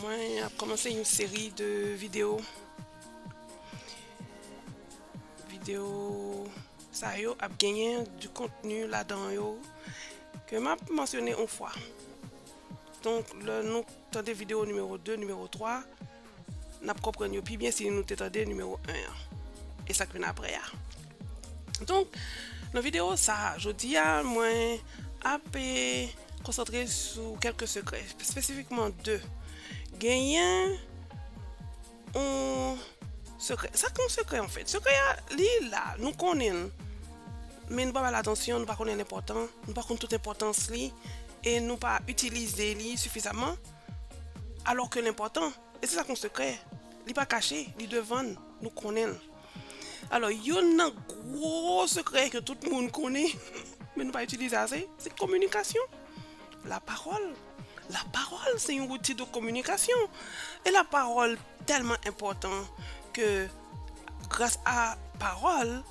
Mwen ap komanse yon seri de video Video sa yo ap genyen di kontenu la dan yo Ke m ap mansyone yon fwa Donk lè nou tande video nimewo 2, nimewo 3 N ap konprann yo pi byen si nou te tande nimewo 1 an e sa k vin apre a. Donk, nan videyo sa a, jodi a, mwen ap konsantre sou kèlke sekrè, espesifikman 2. Genyen yon sekrè. Sa k yon sekrè anfèt? Sekrè a, li la, nou konnen l, men nou pa ba l atansyon, nou pa konnen l enpòtan, nou pa konn tout enpòtans li e nou pa itilize li sifizaman. Alò ke l enpòtan, e se sa k yon sekrè, li pa kache, li devan n, nou konnen l. Alò, youn nan gwo sekrè ke tout moun konnen, men nou pa itilize ase, se kominikasyon. Lapawòl, lapawòl se yon wouti de kominikasyon. E lapawòl tèlman enpòtan ke gras a pawòl,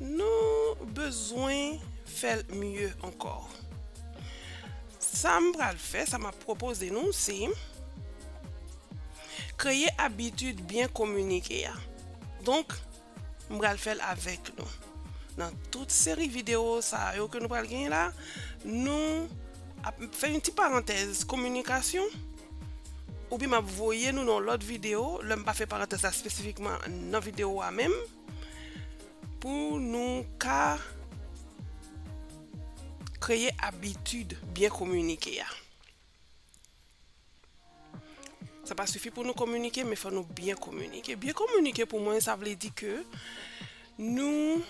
Nou bezwen fè l mye ankò. Sa m pral fè, sa m ap pwopoze nou se kreye abitid byen kominike a. Donk, m pral fè l avèk nou. Nan tout seri videyo sa yo ke nou pral genyen la, nou ap fè yon ti parantèz kominikasyon. Oubyen map voye nou nan yon lòt video lè m pa fè parantèz la spesifikman nan video a menm pou nou ka kreye abitid byen kominike a. Sa pa sifi pou nou kominike men fò nou byen kominike. Byen kominike pou mwen sa vle di ke nou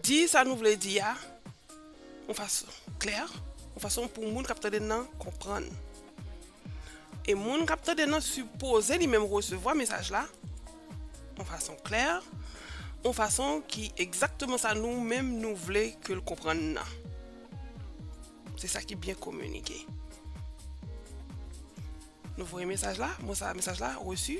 Di sa nou vle di a yon fason klè, yon fason pou moun k ap tande n nan konprann. E moun k ap tande n nan sipoze li menm resevwa mesaj la yon fason klè, yon fason ki egzakteman sa nou menm nou vle ke l konprann n nan. Se sa ki byen kominike. Nou voye mesaj la, mo sa a mesaj la, resu.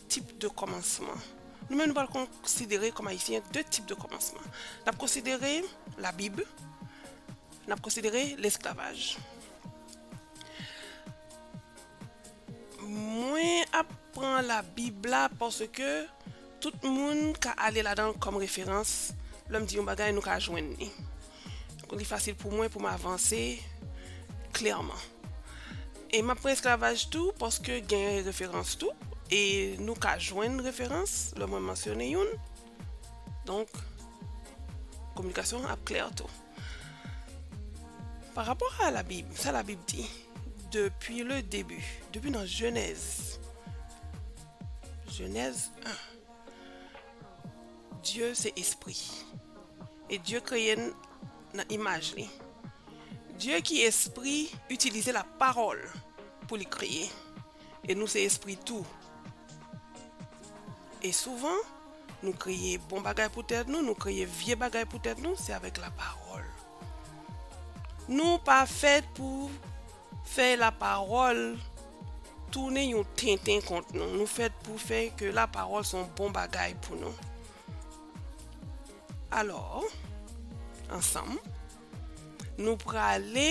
Tip de kòmansman. Nou menm nou pral konsidere kòm Ayisyen 2 tip de kòmansman. N ap konsidere Labib, n ap konsidere lesklavaj. Mwen ap pran Labib la paske tout moun ka ale ladan l kòm referans. Lè m di yon bagay, nou ka jwenn li. Pou li fasil pou mwen pou m avanse klèman. E m ap pran esklavaj tou paske gen referans tou. E nou ka jwenn referans lè mwen mansyone youn. Donk, kominikasyon an ap klè tou. Pa rapò a labib, sa labib di, depi le debi, depi nan jenèz, jenèz 1. Dye se espri. E Dye kreye n nan imaj li. Dye ki espri itilize lapawòl pou li kreye. E nou se espri tou. E souvan, nou kreye bon bagay pou tèt nou, nou kreye vye bagay pou tèt nou, se avèk lapawòl. Nou pa fèt pou fè la pawòl tounen yon tenten kont nou. Nou fèt pou fè ke la pawòl son bon bagay pou nou. Alò, ansanm, nou prale.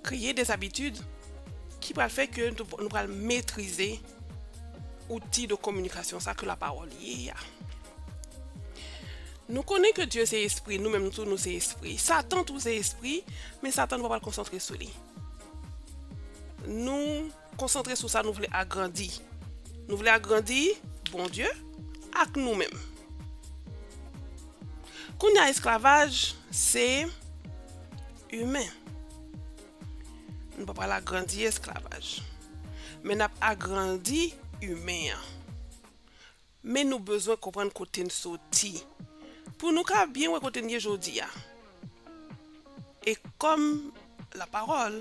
Kreye des habitudes ki pral fè ke nou pral metrize outil de communication sa ke la parole ye a. Nou konnen ke Dye se espri, nou menm tou nou se espri. Satan tou se espri, men Satan nou pa pral konsantre sou li. Nou. Konsantre sou sa nou vle agrandi. Nou vle agrandi Bondye ak nou menm. Kounye a esklavaj se imen. Nou pa pral agrandi esklavaj. Men n ap agrandi imen an. Men nou bezwen konprann kote n soti pou nou ka byen wè kote n ye jodi a. E kòm lapawòl,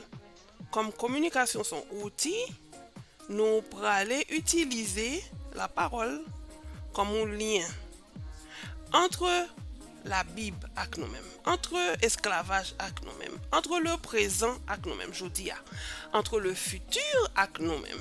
kòm kominikasyon s on outi, nou prale itilize lapawòl kòm yon lyen antre Labib ak nou menm, antre esklavaj ak nou menm, antre leprezan ak nou menm jodi a, antre lefiti ak nou menm.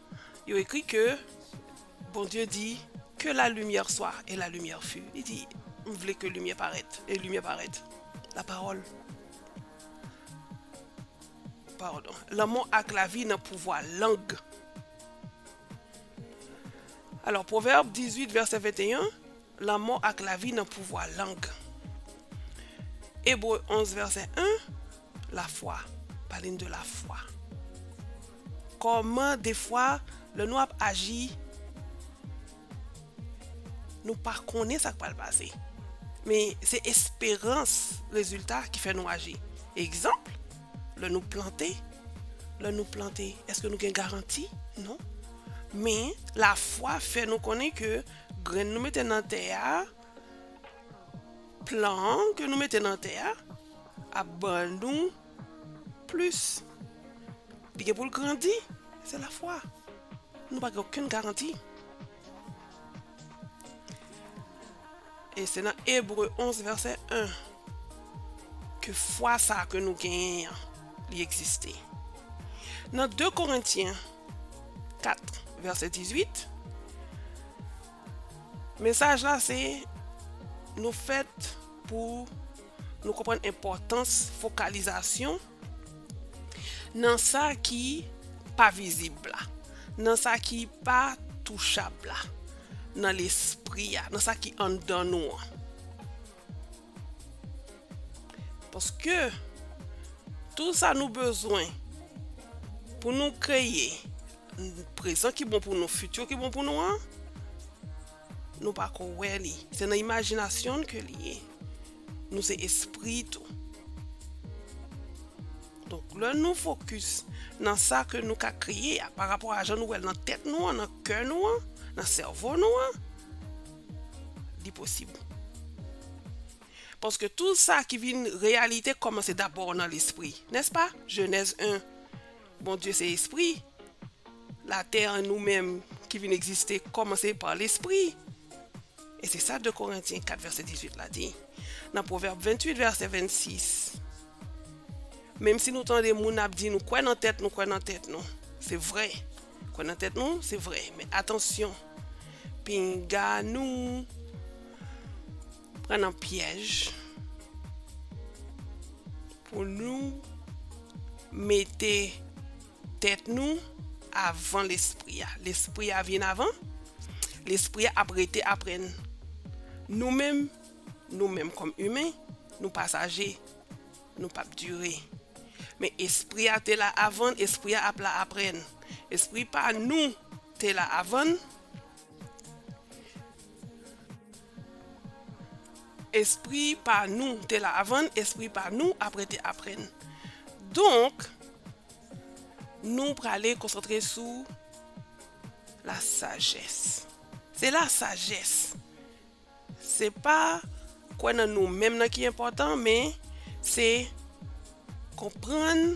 Yo ekri ke Bondye di, Que la lumière soit, et la lumière fut. Li di, M vle ke limyè parèt, e limyè parèt. Lapawòl. Padon. Lanmò ak lavi nan pouvwa lang. Alò, Pwovèb 18 vèsè 21. Lanmò ak lavi nan pouvwa lang. Ebre 11 vèsè 1, lafwa, pale n de lafwa. Kòman defwa lè nou ap aji nou pa konnen sa k pral pase, men se esperans rezilta ki fè nou aji. Egzanp, lè nou plante, lè nou plante èske nou gen garanti? Non. Men lafwa fè nou konnen ke Grenn nou mete nan tè a, plan an ke nou mete nan tè a, ap ban nou plis. Li gen pou l grandi, se lafwa. Nou pa gen okenn garanti. E se nan Ebre 11 vèsè 1 ke fwa sa ke nou genyen an li egziste. Nan 2 Korentyen. 4 vèsè 18 Mesaj la se Nou fèt pou nou konprann enpòtans fokalizasyon nan sa ki pa vizib la, nan sa ki pa touchab la, nan lespri a, nan sa ki anndan nou an. Paske tout sa nou bezwen pou nou kreye prezan ki bon pou nou, fiti ki bon pou nou an, nou pa ko wè li. Se nan imajinasyon nou ke li ye. Nou se espri tou. Donk lè nou fokus nan sa ke nou ka kreye a, pa rapò a jan nou wè l nan tèt nou an, nan kè nou an, nan sèvo nou an, Li posib. Paske tou sa ki vin reyalite kòmanse dabò nan lespri. Nèspa? Jenèz 1, Bondye se espri. Latè an nou menm ki vin egziste kòmanse pa lespri. E se sa 2 Korentyen 4 vèsè 18 la di. Nan Pwovèb 28 vèsè 26, Menmsi nou tande moun ap di nou kwè nan tèt nou kwè nan tèt nou. Se vre. Kwè nan tèt nou se vre men atansyon pinga nou pran nan pyèj pou nou mete tèt nou avan lespri a. Lespri a vyen avan, lespri a ap rete apre n. Nou menm, nou menm kòm imen, nou pasaje. Nou pap dure. Men espri a te la avan, espri a ap la apre n. Espri pa nou te la avan. Espri pa nou te la avan, espri pa nou apre te apre n. Donk, nou prale konsantre sou la sajès. Se la sajès. Se pa kwè nan nou menm nan ki enpòtan men se konprann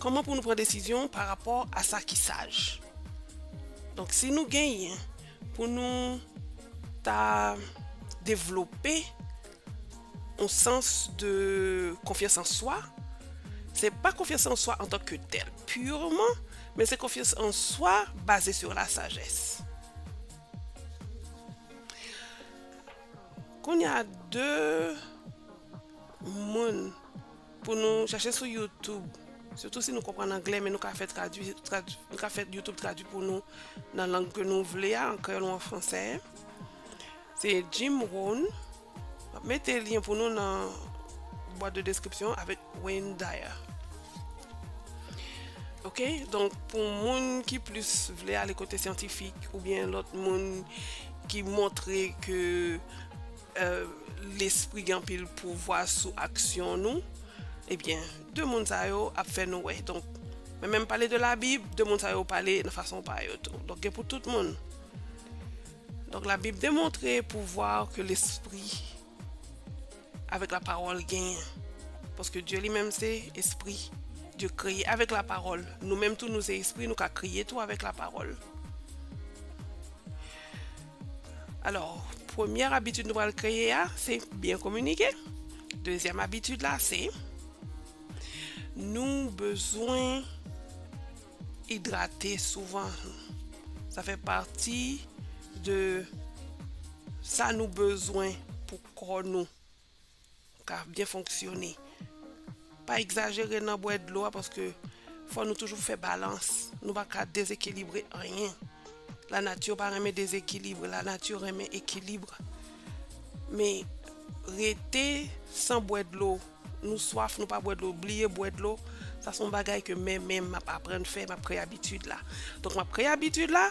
kòman pou nou pran desizyon pa rapò a sa ki saj. Donk si nou genyen pou nou ta devlope yon sans de konfyans an swa, se pa konfyans an swa antan ke tèl purman men se konfyans an swa baze sur la sajès. Kounye a 2 moun pou nou chache sou YouTube. Sitou si nou konprann anglè men nou ka fè tradwi, nou ka fè YouTube tradwi pou nou nan lang ke nou vle a, an kreyòl ou an fransè. Se Jim Rohn. Map mete lien pou nou nan boîte de description avèk Wayne Dyer. Ok, donk pou moun ki plis vle ale kote syantifik oubyen lòt moun ki montre ke euh, lespri gen anpil pouvwa sou aksyon nou, ebyen de moun sa yo ap fè nou wè. Donk mwen menm pale de labib, de moun sa yo pale nan fason pa yo tou. Donk gen pou tout moun. Donk la bib demontre pouvwa ke lespri avèk la pawòl genyen. Paske Dye li menm se espri. Dye kreye avèk la pawòl. Nou menm tou nou se espri, nou ka kreye tou avèk la pawòl. Alò, premyè abitid nou pral kreye a, se byen kominike. Dezyèm abitid la se nou bezwen Idrate souvan, sa fè pati de sa nou bezwen pou kò nou ka byen fonksyone. Pa egzajere nan bwè dlo a paske fò nou toujou fè balans, nou pa ka dezekilibre anyen. La nati pa renmen dezekilibre, la nati renmen ekilibre. Men rete san bwè dlo. Nou swaf nou pa bwè dlo bliye bwè dlo sa son bagay ke men menm map aprann fè map kreye abitid la donk map kreye abitid la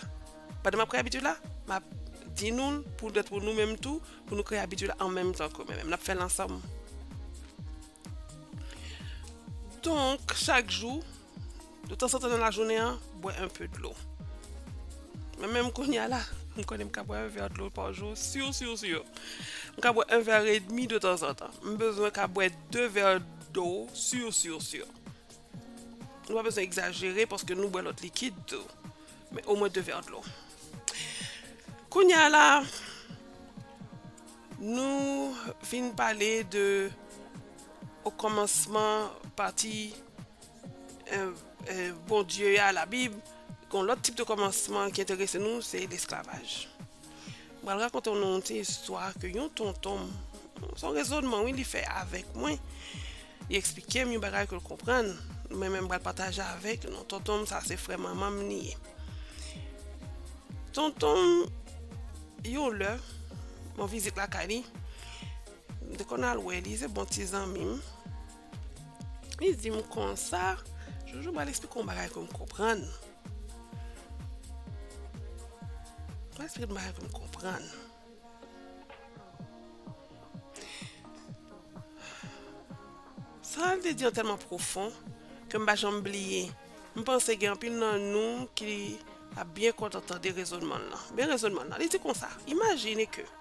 pandan map kreye abitid la map di nou pou dèt pou nou menm tou pou nou kreye abitid la an menm tan ke men menm nap fèl ansanm donk chak jou. De tan san tan nan lajounen an, bwè anpe dlo. Mwen menm kounye a la, m konnen m ka bwè 1 vè dlo pa jou, siw siw siw. M ka bwè 1 vè edmi de tan san tan. M bezwen ka bwè 2 vè dlo siw siw siw. Nou pa bezwen egzajere paske nou bwè lòt likid tou. Men omwen 2 vè dlo. Kounye a la, nou fin pale de o kòmansman pati Bondye a labib Gon lòt tip de kòmansman ki enterese nou se lesklavaj Mwen pral rakonte nou yon ti istwa ke yon tonton m Se yon rezònman wi li fè avèk mwen Li eksplike m yon bagay ke l konprann Mwen menm m pral pataje avèk nou Tonton m sa se frè manman m li ye Tonton m yon lè m an vizit lakay li M te konn al wè li se bon ti zanmi m Li di m konsa, Jojo m pral eksplike w yon bagay pou m konprann. M pral eksplike yon bagay pou m konprann. Sa l te di an tèlman pwofon ke m pa janm bliye. M panse gen anpil nan nou ki ap byen kontan tande rezonman l lan. Men rezonman l lan, li di konsa, Imajine ke.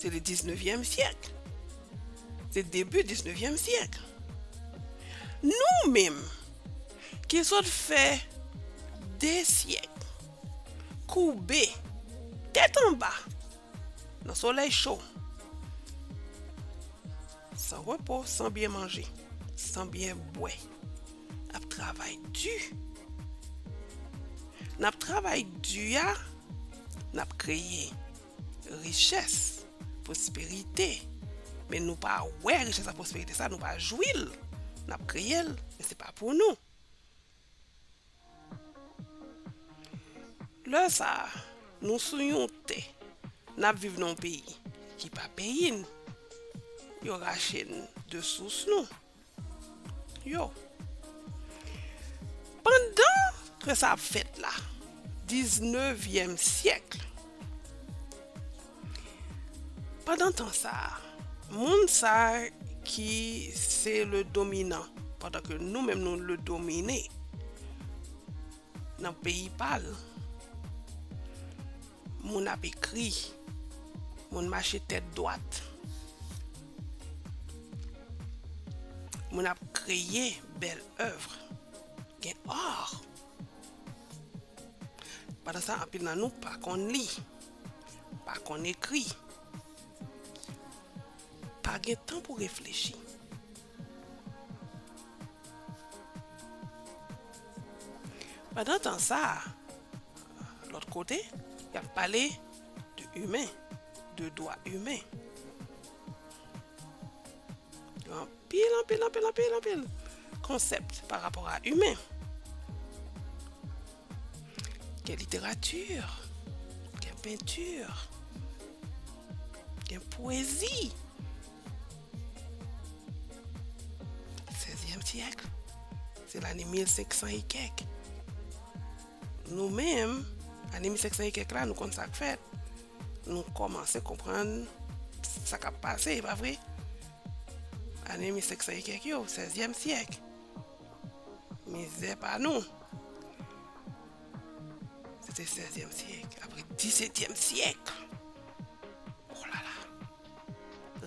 Se le 19 vièm siècle. Se debu 19 vièm siècle. Nou menm, ki sot fè de siècle, koube, tèt anba, nan solèy cho, san repo, san byen manje, san byen bwè, ap travay du. Nap travay du a, nap kreye. Richès, pwosperite, men nou pa wè richès ak pwosperite sa, nou pa jwi l, n ap kreye l, men se pa pou nou. Lè sa a, nou sou yon tè, n ap viv nan yon peyi ki pa peyi n, yo rache n de sous nou. yo. Pandan ke sa ap fèt la, diznevyèm syèkl, pandan tan sa a, moun sa ki se le dominan, pandan ke nou menm nou le domine, nan peyi pa l, Moun ap ekri. Moun mache tèt dwat. Moun ap kreye bèl evre. Gen art. Pandan sa anpil nan nou pa konn li. Pa konn ekri. Pa gen tan pou reflechi. Pandan tan sa. Lòt kote, y ap pale de imen, de dwa imen. Gen anpil, anpil, anpil, anpil, anpil konsèp pa rapò a imen. Gen literati, gen penti, gen pwezi. Sezyèm syèk, se lane 1500 e kèk. Nou menm, ane 1500 e kèk la, nou konn sa k fèt. Nou kòmanse konprann sa k ap pase, e pa vre? Ane 1500 e kèk yo, sèzyèm syèk. Mizè pa nou. Se te sèzyèm syèk. Apre disetyèm syèk. O lala.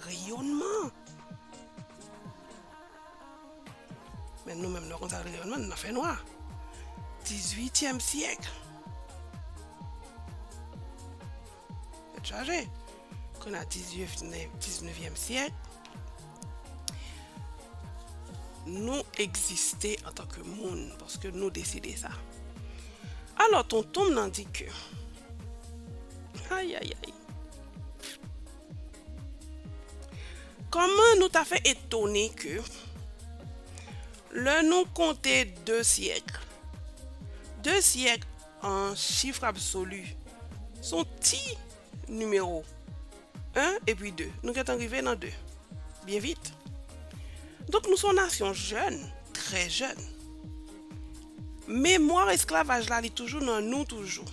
Reyonman! Men nou menm nou konn sa rele reyonman, nou nan fè nwa. Dizuityèm syèk. Tèt chaje. Kou nan diznevyèm syèk, nou egziste an tan ke moun, paske nou deside sa. Alò, tonton m nan di ke, ayayay! Kòman nou ta fè etone ke lè nou konte de syèk, de syèk an chif absoli s on ti nimewo, 1 epi 2, nou gen tan rive nan 2 byen vit. Donk nou s on nasyon jèn, trè jèn. Memwa esklavaj la li toujou nan nou toujou.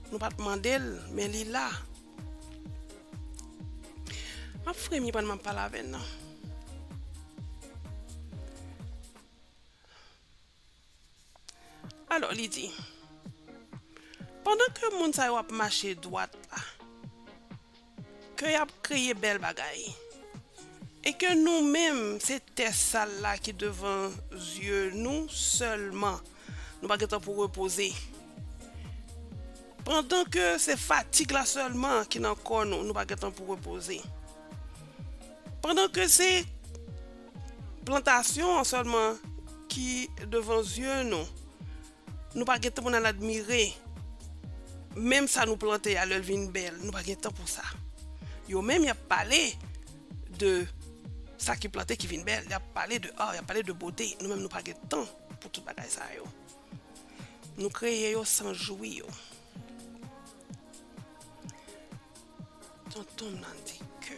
Nou pat mandel men li la. Map fremi pandan map pale avè nan. Alò li di. Pandan ke moun sa yo ap mache dwat la. Ke y ap kreye bèl bagay. E ke nou menm se tè sal la ki devan zye nou sèlman, nou pa gen tan pou repoze. Pandan ke se fatig la sèlman ki nan kò nou, nou pa gen tan pou repoze. Pandan ke se plantasyon an sèlman ki devan zye nou. Nou pa gen tan pou n al admire menm sa nou plante a lè l vin bèl. Nou pa gen tan pou sa. Yo menm y ap pale de sa ki plante ki vin bèl. Y ap pale de ar, y ap pale de bote. Nou menm nou pa gen tan pou tout bagay sa yo. Nou kreye yo san jwi yo. Tonton m nan di ke.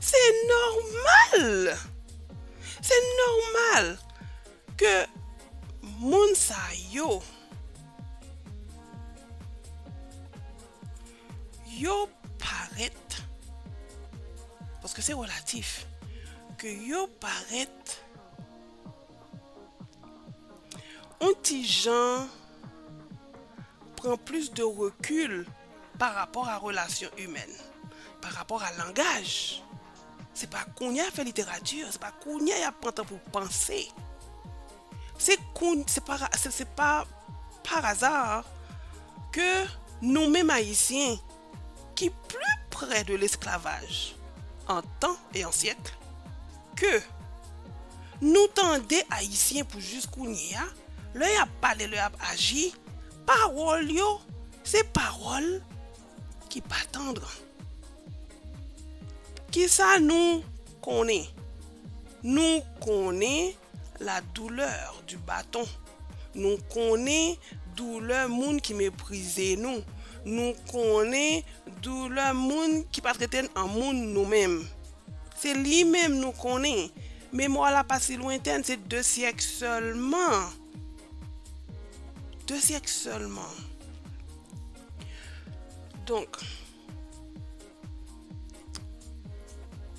Se nòmal! Se nòmal ke moun sa yo, yo parèt, paske se relatif, ke yo parèt yon ti jan pran plis de rekil, Pa rapò a relasyon imèn. Pa rapò a langaj. Se pa kounye a y ap fè literati. Se pa kounye a y ap pran tan pou panse. Se koun, se pa, se pa par hasard ke nou menm Ayisyen ki pli prè de lesklavaj an tan e an syèk ke nou tande Ayisyen pou jis kounye a lè y ap pale, lè y ap aji. Pawòl yo se pawòl ki pa tandr. Kisa nou konnen? Nou konnen la douleur du bâton, nou konnen doulè moun ki meprize nou, nou konnen doulè moun ki pa trete n an moun nou menm. Se li menm nou konnen. Memwa w la pa si lwentèn, se de syèk sèlman. 2 syèk sèlman. Donk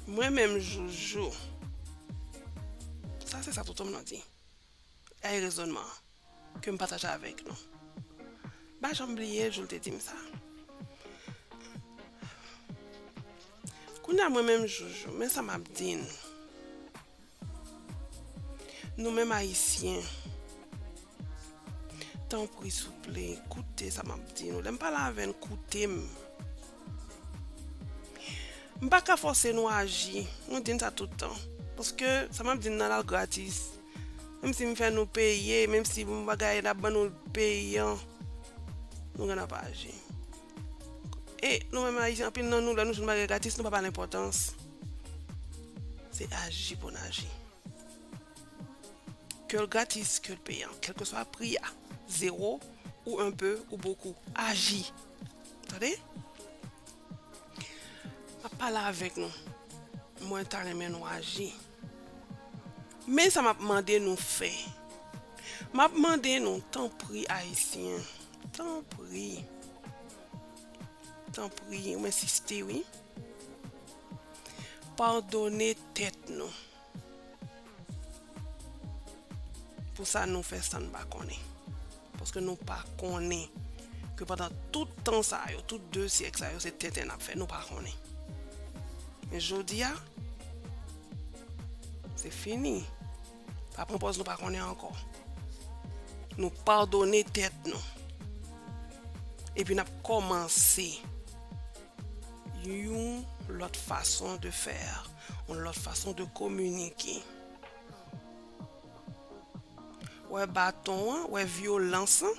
Mwen menm joujou Sa se sa tonton m nan di Gade rezònman an Ke m pataje avèk nou M pa janm bliye jou l te di m sa Kounye a mwen menm joujou Men sa m ap di n Nou menm ayisyen tanpri souple koute sa map di nou lèm pale avèn koutem mpa ka fòse nou aji nou di n sa tout tan paske sa map di n nan al gratis menm si m fè nou peye menm si m bagay nap ban nou peyan nou gentan pa aji. E nou menm Ayisyen anpil nan nou lè nou jwenn bagay gratis nou pa ba l enpòtans. Se aji pou n aji. Ke l gratis, ke l peyan, kèlkeswa pri a, zewo ou enpe ou bokou, aji. Tande? M ap pale avèk nou. Mwen ta renmen nou aji. Men sa map mande nou fè. Map mande nou tanpri ayisyen. Tanpri. Tanpri m ensiste wi. Padone tèt nou. Pou sa nou fè san n pa konnen. Paske nou pa konnen ke pandan tout tan sa yo, tout 2 syèk sa yo se tenten nap fè, nou pa konnen. Men jodi a, se fini. Pa pran pòz nou pa konnen ankò. Nou padone tèt nou. Epi nap kòmanse yon lòt fason de fè, yon lòt fason de kominike. Wè baton an, wè vyolans lan.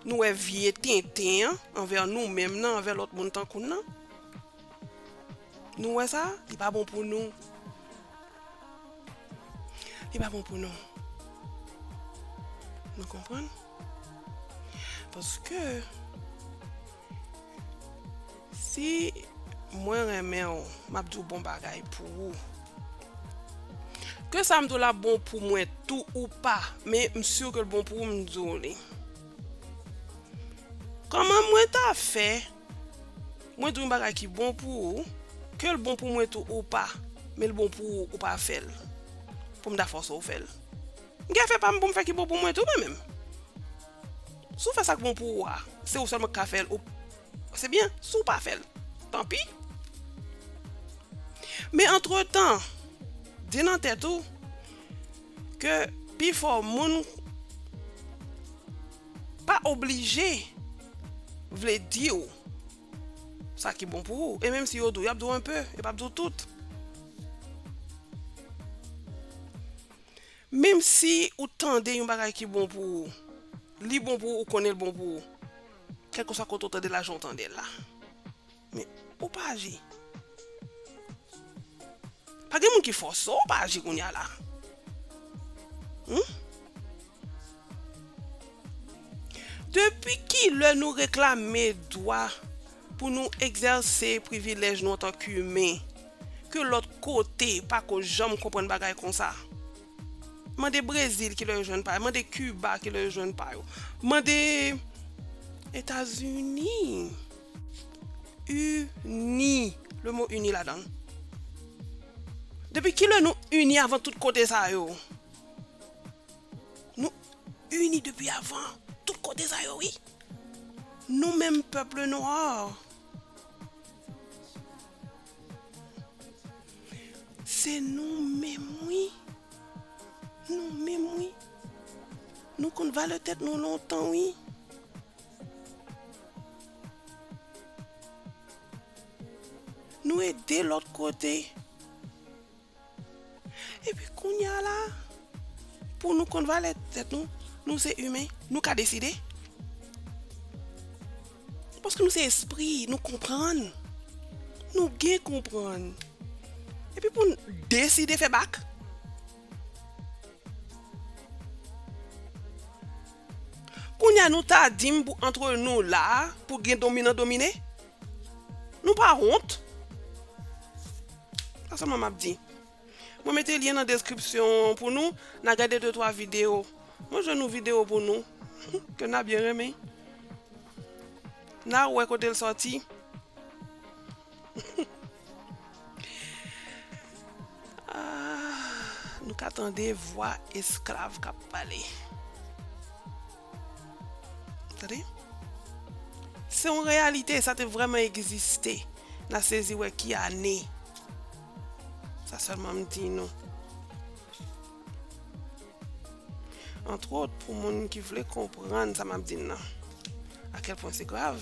Nou wè vye tenten an anvè nou menm nan, anvè lòt moun tankou n nan. Nou wè sa? Li pa bon pou nou. Li pa bon pou nou. Nou konprann? Paske... Si mwen renmen w map di w bon bagay pou ou Ke sam di w la bon pou mwen tou ou pa men m sur ke l bon pou ou m di w li Kòman mwen ta fè mwen di w yon bagay ki bon pou ou ke l bon pou mwen tou ou pa men l bon pou ou ou pa fè l pou m ta fòse w fè l M gen afè pa m pou m fè ki bon pou mwen tou mwen menm Si w fè sa k bon pou ou a se ou sèlman k ka fè l ou Se byen, si w pa fè l, tanpi. Men antretan, di nan tèt ou ke pifò moun pa oblije vle di w sa ki bon pou ou. E menm si yo di w, y ap di w enpe, yo p ap di w tout. Menm si ou tande yon bagay ki bon pou ou, li bon pou ou, ou konnen l bon pou ou. Kèlkeswa kote ou tande lajan ou tandel la men ou pa aji pa gen moun ki fòse w pa aji kounya la humm depi kilè nou reklame dwa pou nou egzèse privilèj nou antank imen ke lòt kote pako janm konprann bagay konsa Mande Brezil ki lè yo jwenn pa yo. Mande Kiba ki lè yo jwenn pa yo. Mande Etazini. Ini. Le mo ini la dan. Depi ki lè nou ini avan tout kote sa yo? Nou ini depi avan tout kote sa yo wi. Nou menm pèp le noir. Se nou menm wi Nou menm wi Nou konn valè tèt nou lontan wi Nou ede lòt kote Epi kounye a la, pou nou konn valè tèt nou, nou se imen, nou ka deside. Paske nou se espri, nou konprann. Nou gen konprann. Epi pou nou deside fè bak. Kounye a nou ta di m pou antre nou la, pou gen dominan domine. Nou pa wont? Sa selman map di. Mwen mete lien nan description an pou nou, na gade de twa video. Mwen jwenn yon video pou nou ke na byen renmen. Na wè kote l soti. Nou ka tande vwa esklav kap pale. Tande. Se yon reyalite, sa te vreman egziste. Na sezi wè ki ane. Sa selman m di nou. Antwot, pou moun ki vle konprann sa m ap di nan. Akel pwen se grav.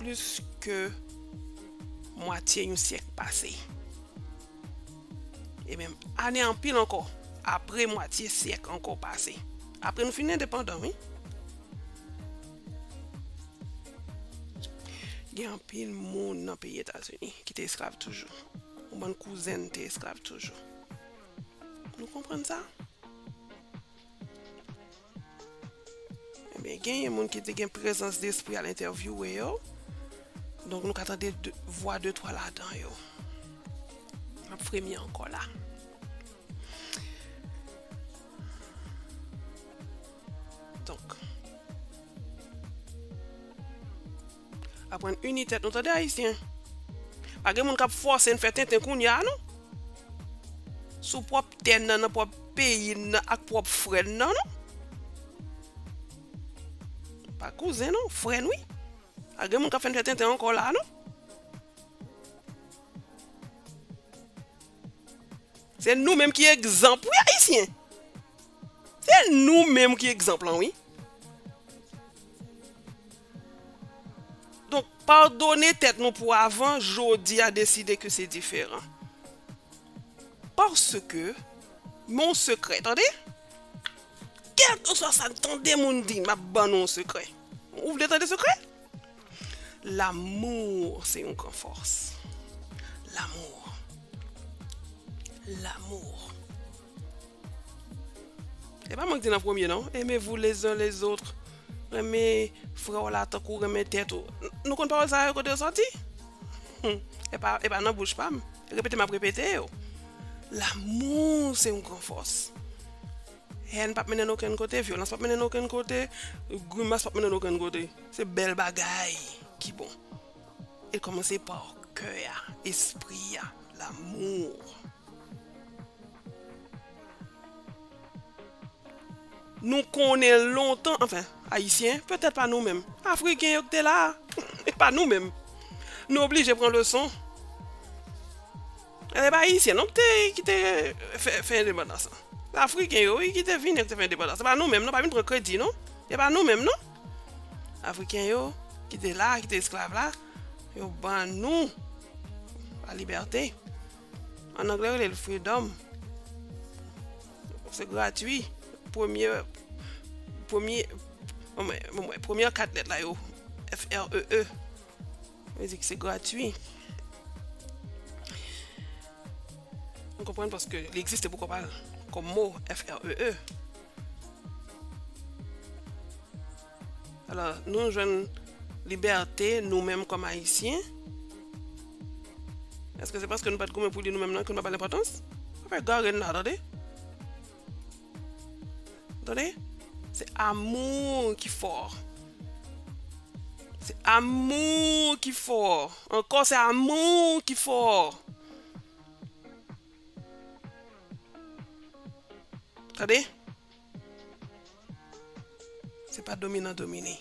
Plis ke mwatye yon syèk pase. E menm ane anpil ankò. Apre mwatye syèk ankò pase. Apre nou fin endepandan wi. Gen anpil moun nan peyi Etazini ki te esklav toujou. Yon bann kouzen nou te esklav toujou. Nou konprann sa? Ebyen genyen moun ki te gen prezans despri al entèvyouwe yo. Donk nou ka tande vwa de twa ladan yo. M ap fremi ankò la. Donk. Aprann uni tèt nou tande ayisyen. Pa gen moun kap fòse n fè tenten kounya a non. Sou pwòp tè nan, nan pwòp peyi n nan ak pwòp frè n nan non. Pa kouzen non, frè n wi. Pa gen moun kap fè n fè tenten ankò la a non. Se nou menm ki egzanp wi ayisyen. Se nou menm ki egzanp lan wi. Donk padone tèt nou pou avan jodi a deside ke se diferan. Paske mon sekrè tande. Kèlkeswa sa tande moun di map ban nou yon sekrè. Ou vle tande sekrè? L'amour se yon gran fòs L'amour L'amour E pa mwen ki te nan premye non Aimez-vous les uns les autres Renmen frè w la tankou w renmen tèt ou Nou konn pawòl sa yo kote yo sòti? E pa nan bouch pa m Repete m ap repete yo L'amour se yon gran fòs Hèn p ap mennen n okenn kote Vyolans p ap mennen n okenn kote Grimas p ap mennen n okenn kote Se bèl bagay ki bon. E kòmanse pa kè a, espri a, l'amour. Nou konnen lontan, anfen, Ayisyen, petèt pa nou menm. Afriken yo ki te la a, e pa nou menm. Nou oblije pran leson. Se pa Ayisyen non ki te fè endepandans lan. Se Afriken yo wi ki te vini, ki te fè endepandans. Se pa nou menm non, pa vin pran kredi non. Se pa nou menm non. Afriken yo ki te la, ki te esklav la, yo ban nou la libète. An anglè yo rele l freedom. Se gratwi. Premye, premye, mwen mwen, premye kat lèt la yo, F-R-E-E. Mizik se gratwi. M konprann paske li egziste pou kòpal kòm mo FREE. Alò nou jwenn libète nou menm kòm ayisyen. Eske se paske nou pat goumen pou li nou menm nan ke nou pa ba l enpòtans? Pa fè gare n nan tande. Tande, se amour ki fort. Se amour ki fort. Ankò se amour ki fort. Tande. Se pa dominan domine,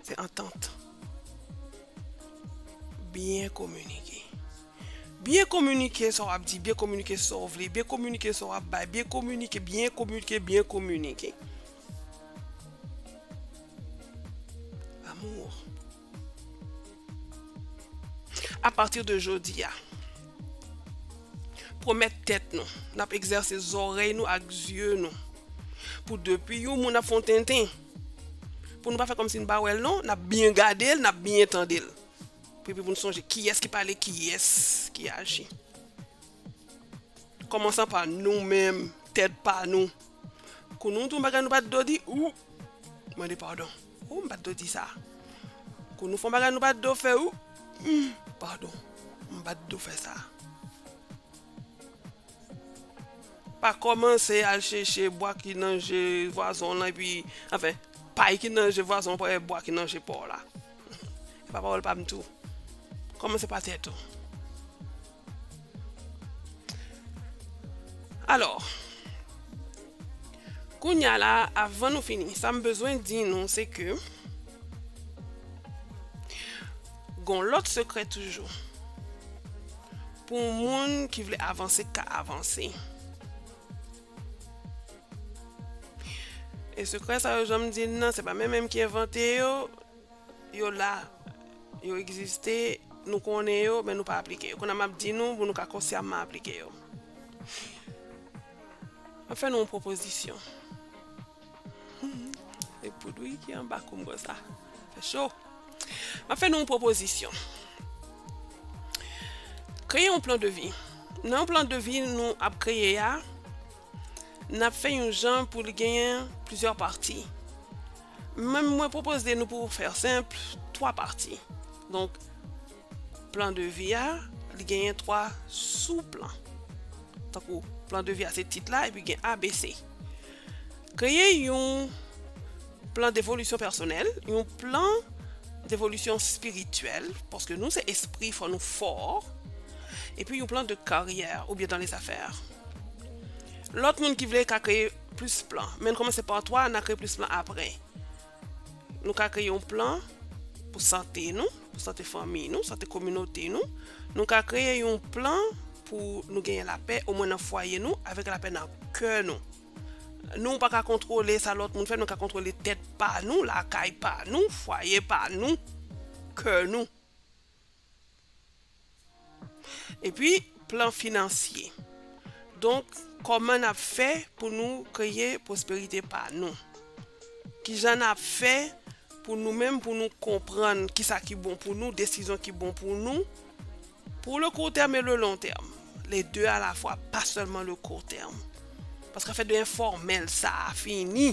se antant. Byen kominike. Byen kominike sa w ap di, byen kominike sa w vle, byen kominike sa w ap bay, byen kominike, byen kominike, byen kominike. Amour. A pati de jodi a, pwomèt tèt nou n ap egzèse zòrèy nou ak zye nou pou depi yon moun ap fè yon tenten, pou nou pa fè kòmsi nou pa wè l non, n ap byen gade l, n ap byen tande l. Epi pou nou sonje kiyès ki pale, kiyès ki aji. Kòmansan pa nou menm, tèt pa nou. Kou nou di yon bagay nou pa t dwe di, ou, mande padon. Ooh m pat do di sa. Kou nou fon bagay nou pat do fè ooh pardon m pat do fè sa. Pa komanse al cheche bwa ki nan je vwazon w lan epi anfen pay ki nan je vwazon w pa wè bwa ki nan je pa w la. Se pa pawòl pa m tou. Komanse pa tèt ou. Alò, kounye a la, avan nou fini, sa m bezwen di nou se ke gon lòt sekrè toujou pou moun ki vle avanse ka avanse. E sekrè sa yo jan m di l nan se pa menm menm ki envante yo. Yo la, yo egziste, nou konnen yo, men nou pa aplike yo. Kounye a m ap di nou pou nou ka konsyamman aplike yo. M ap fè nou yon pwopozisyon. Se poud wi ki anba kou m konsa. Fè cho. M ap fè nou yon pwopozisyon. Kreye yon plan de vi. Nan yon plan de vi nou ap kreye a, N ap fè yon jan pou l genyen plizyè pati. Men mwen pwopoze nou pou fè senp, twa pati. Donk, plan de vi a, li genyen twa sou plan. Tankou, plan de vi a se tit la epi gen A, B, C. Kreye yon plan devolisyon pèsonèl, yon plan devolisyon espirityèl, paske nou se espri fò nou fò, epi yon plan de karyè oubyen dan lezafè. Lòt moun ki vle ka kreye plis plan. Men nou kòmanse pa 3, na kreye plis plan apre. Nou ka kreye yon plan pou sante nou, pou sante fanmiy nou, sante kominote nou. Nou ka kreye yon plan pou nou genyen lapè o mwen nan fwaye nou avèk lapè nan kè nou. Nou pa ka kontwole sa lòt moun fè, nou ka kontwole tèt pa nou, lakay pa nou, fwaye pa nou, kè nou. Epi plan finansye. Donk kòman n ap fè pou nou kreye pwosperite pa nou? Kijan n ap fè pou nou menm pou nou konprann kisa ki bon pou nou, desizyon ki bon pou nou pou le kou tèm e le lon tèm, le de a la fwa pa sèlman le kou tèm. Paske afè de enfòmèl sa a fini.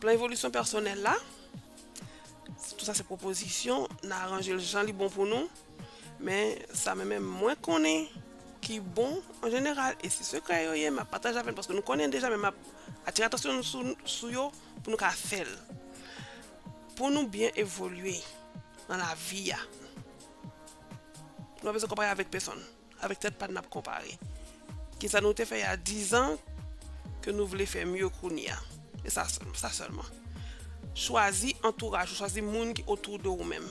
Plan evolisyon pèsonèl la, tout sa se pwopozisyon, nan aranje l jan li bon pou nou, men sa men menm mwen konnen ki bon an jeneral, e si sekrè yo ye, m ap pataje avè n, paske nou konnen deja men m ap atire atansyon nou sou yo pou nou ka fè l. Pou nou byen evolye nan lavi a, nou pa bezwen konpare avèk pesonn. Avèk tèt pa n nap konpare. Kisa nou te fè ya dizan ke nou vle fè mye kounya. E sa sèlman, sa sèlman. Chwazi antouraj ou, chwazi moun ki otou de ou menm.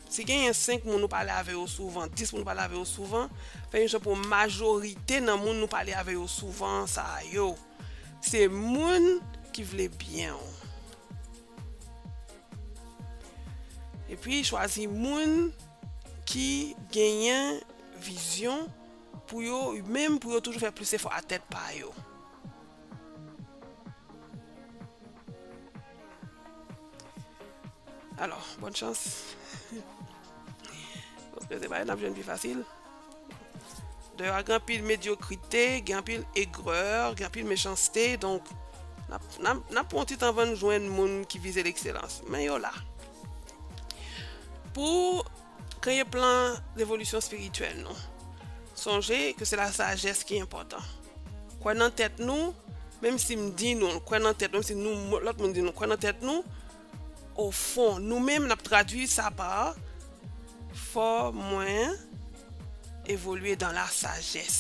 Si genyen 5 moun ou pale avè yo souvan, 10 moun ou pale avè yo souvan, fè yon jan pou majorite nan moun ou pale avè yo souvan sa yo, se moun ki vle byen ou. Epi chwazi moun ki genyen vizyon pou yo menm pou yo toujou fè plis efò a tèt pa yo. Alò, bòn chans. Paske se pa yo n ap jwenn pi fasil. Deyò a gen anpil medyokrite, gen anpil egrè, gen anpil mechanste, donk n ap pran yon ti tan anvan n jwenn moun ki vize lekselans. Men yo la. Pou kreye plan devolisyon espirityèl nou, sonje ke se la sajès ki enpòtan. Kwè nan tèt nou, menm si m di nou, kwè nan tèt nou, menm si lòt moun di nou, kwè nan tèt nou, O fon, nou menm n ap tradui sa pa Fò mwen evolye dan la sajès.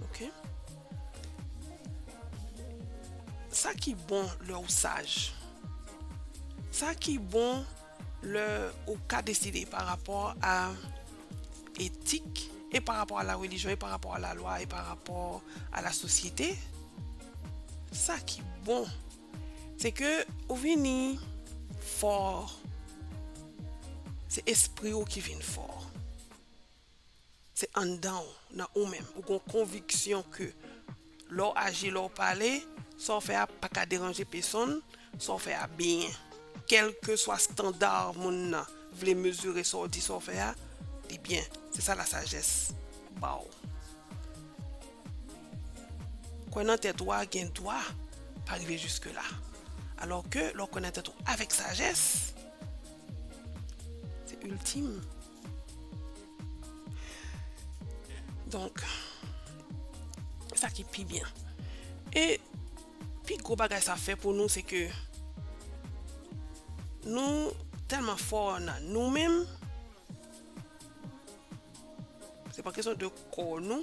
Ok. Sa ki bon lè ou saj? Sa ki bon. Lè ou ka deside pa rapò a etik, e pa rapò a la relijyon, e pa rapò a la lwa, e pa rapò a la sosyete, sa ki bon, se ke ou vini fò, se espri ou ki vin fò. Se anndan w, nan ou menm, ou gen yon konviksyon ke lè w aji, lè w pale, sa w fè a pa ka deranje pesonn, sa w fè a byen. Kèlkeswa standa moun nan vle mezire sa w di, sa w fè a, li byen. Se sa lasajès ba w. Kwè nan tèt ou a gen dwa pa rive jiske la. Alò ke lè w kwè nan tèt ou avèk sajès, se iltim. Donk, sa ki pi byen. E, pi gwo bagay sa fè pou nou se ke nou tèlman fò nan nou menm, se pa kesyon de kò nou,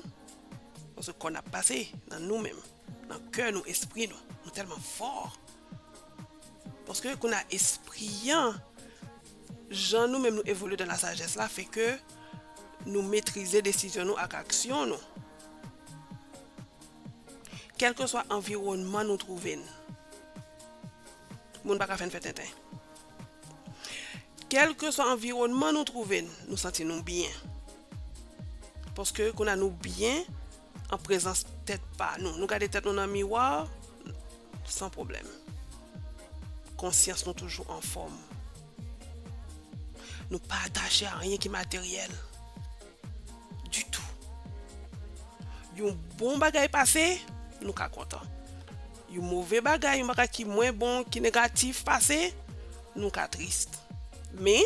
paske kò n ap pase, nan nou menm, nan kè nou, espri nou, nou tèlman fò, paske kounye a espri an Jan nou menm nou evolye dan lasajès la fè ke nou metrize desizyon nou ak aksyon nou. Kèlkeswa anviwònman nou twouve n, moun pa ka fè n fè tenten. Kèlkeswa anviwònman nou twouve n, nou santi nou byen. Paske kounye a nou byen An prezans tèt pa nou. Nou gade tèt nou nan miwa, san pwoblèm. Konsyans nou toujou anfòm. Nou pa atache a anyen ki materyèl. Ditou. Yon bon bagay pase, nou ka kontan. Yon move bagay, yon bagay ki mwen bon, ki negatif pase, nou ka trist. Men.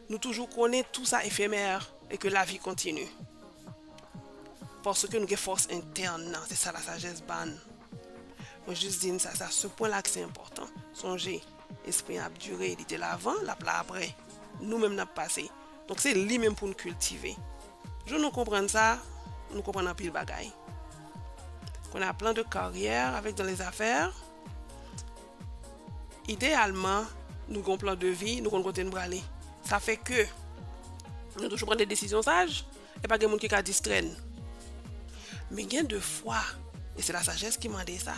Nou toujou konnen tout sa efemè e ke lavi kontini. Paske nou gen fòs entèn nan, se sa lasajès ba n. Mwen jis di n sa, se a se pwen la ke se enpòtan. Sonje, Lespri an ap dire, li te la avan, l ap la apre. Nou menm n ap pase. Donk se li menm pou n kiltive. Jou nou konprann sa, nou konprann anpil bagay. Kounye a, plan de karyè avèk dans les affaires. Ideyalman, nou gen yon plan de vi, nou konn kote nou prale. Sa fè ke nou toujou pran de desizyon saj, e pa gen moun ki ka distrè n. Men gen de fwa, e se lasajès ki mande sa,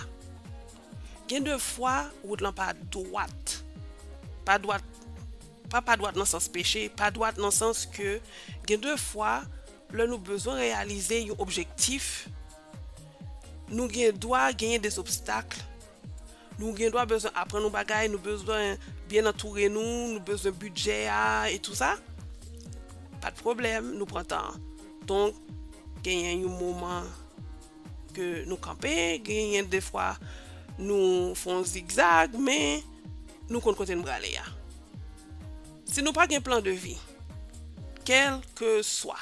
gen de fwa wout lan pa dwat. Pa dwat, pa pa dwat nan sans peche, pa dwat nan sans ke gen de fwa lè nou bezwen reyalize yon objektif, Nou gen dwa genyen des obstacles, nou gen dwa bezwen aprann yon bagay, nou bezwen byen antoure nou, nou bezwen bidjè a e tou sa, pa de pwoblèm, nou pran tan an. Donk, genyen yon moman ke nou kanpe, genyen defwa nou fè yon zigzag, men nou konn kote nou prale a. Si nou pa gen plan de vi, kèlkeswa.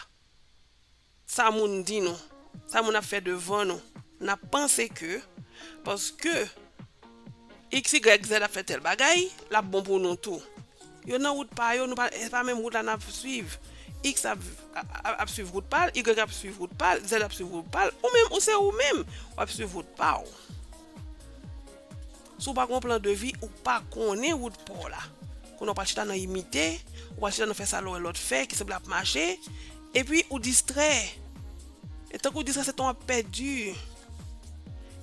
Sa moun di nou, sa moun ap fè devan nou, n ap panse ke paske XYZ ap fè tèl bagay, l ap bon pou nou tou. Yo nan wout pa yo, nou pa, se pa menm wout la n ap swiv. X ap, ap swiv wout pa l, Y ap swiv wout pa l, Z ap swiv wout pa l, ou menm, ou se ou menm, w ap swiv wout pa w. Si w pa gen yon plan de vi, ou pa konnen wout pa w la. Konnen w pral chita nan imite, ou pral chita nan fè sa lè w wè lòt fè, ki sanble ap mache, epi ou distrè. E tankou w distrè se tan w ap pèdi.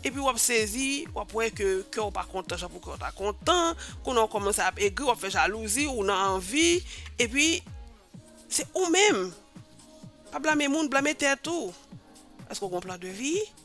Epi w ap sezi, w ap wè ke kè w pa kontan jan pou kè w ta kontan, konnen w kòmanse ap egri, w ap fè jalouzi, ou nan anvi, epi se ou menm. Pa blame moun, blame tèt ou. Èske w gen yon plan de vi?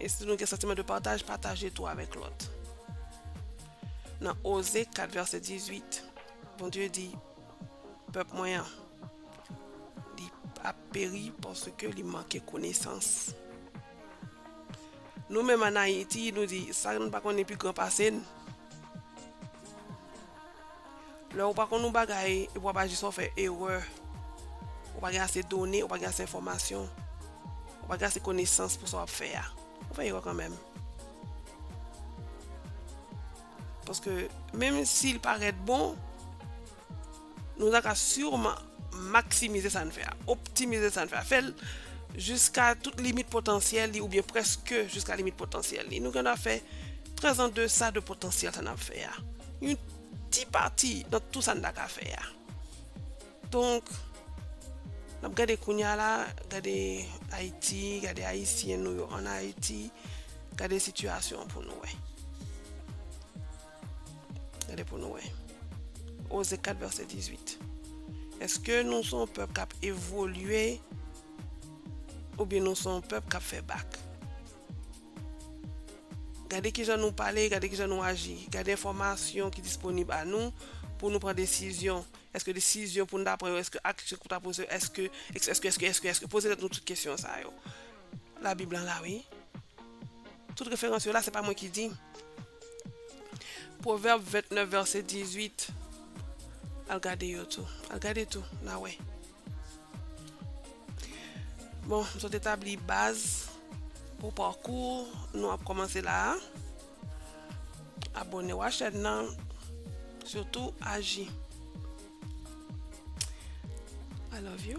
E si nou gen santiman de pataj, pataje tou avèk lòt. Nan Oze 4 vèsè 18, Bondye di, Pèp mwen an, li ap peri paske li manke konesans. Nou menm an Ayiti, nou di, sa nou pa konnen pi gran pase n. Lè ou pa konn yon bagay epi w ap aji sa w fè erè. Ou pa gen ase done, ou pa gen ase enfòmasyon, ou pa gen ase konesans pou sa w ap fè a. Ou fè erè kanmenm. Paske menm si l parèt bon, nou ta ka sireman maksimize sa n fè a, optimize sa n fè a, fè l jiska tout limit potansyèl li oubyen prèske jiska limit potansyèl li. Nou gen dwa fè trè zandesa de potansyèl sa n ap fè a. Yon ti pati nan tout sa n ta ka fè a. Donk, n ap gade kounye a la, gade Ayiti, gade Ayisyen nou yo ann Ayiti, gade sitiyasyon an pou nou wè. Gade pou nou wè. Oze 4 vèsè 18. Èske nou son pèp k ap evolye oubyen nou son pèp k ap fè bak? Gade ki jan nou pale, gade ki jan nou aji, gade enfòmasyon ki disponib a nou pou nou pran desizyon, èske desizyon pou nou ta pran yo, èske aksyon pou ta poze yo, èske, èske, èske, èske, èske, èske, poze tèt nou tout kesyon sa yo. Labib lan la wi. Tout referans yo la, se pa mwen ki di. Pwovèb 29 vèsè 18, al gade yo tou, al gade tou, n a wè. Bon, m sot etabli baz pou pakou nou ap kòmanse la a. Abone w a chèn nan, sitou aji. I love you.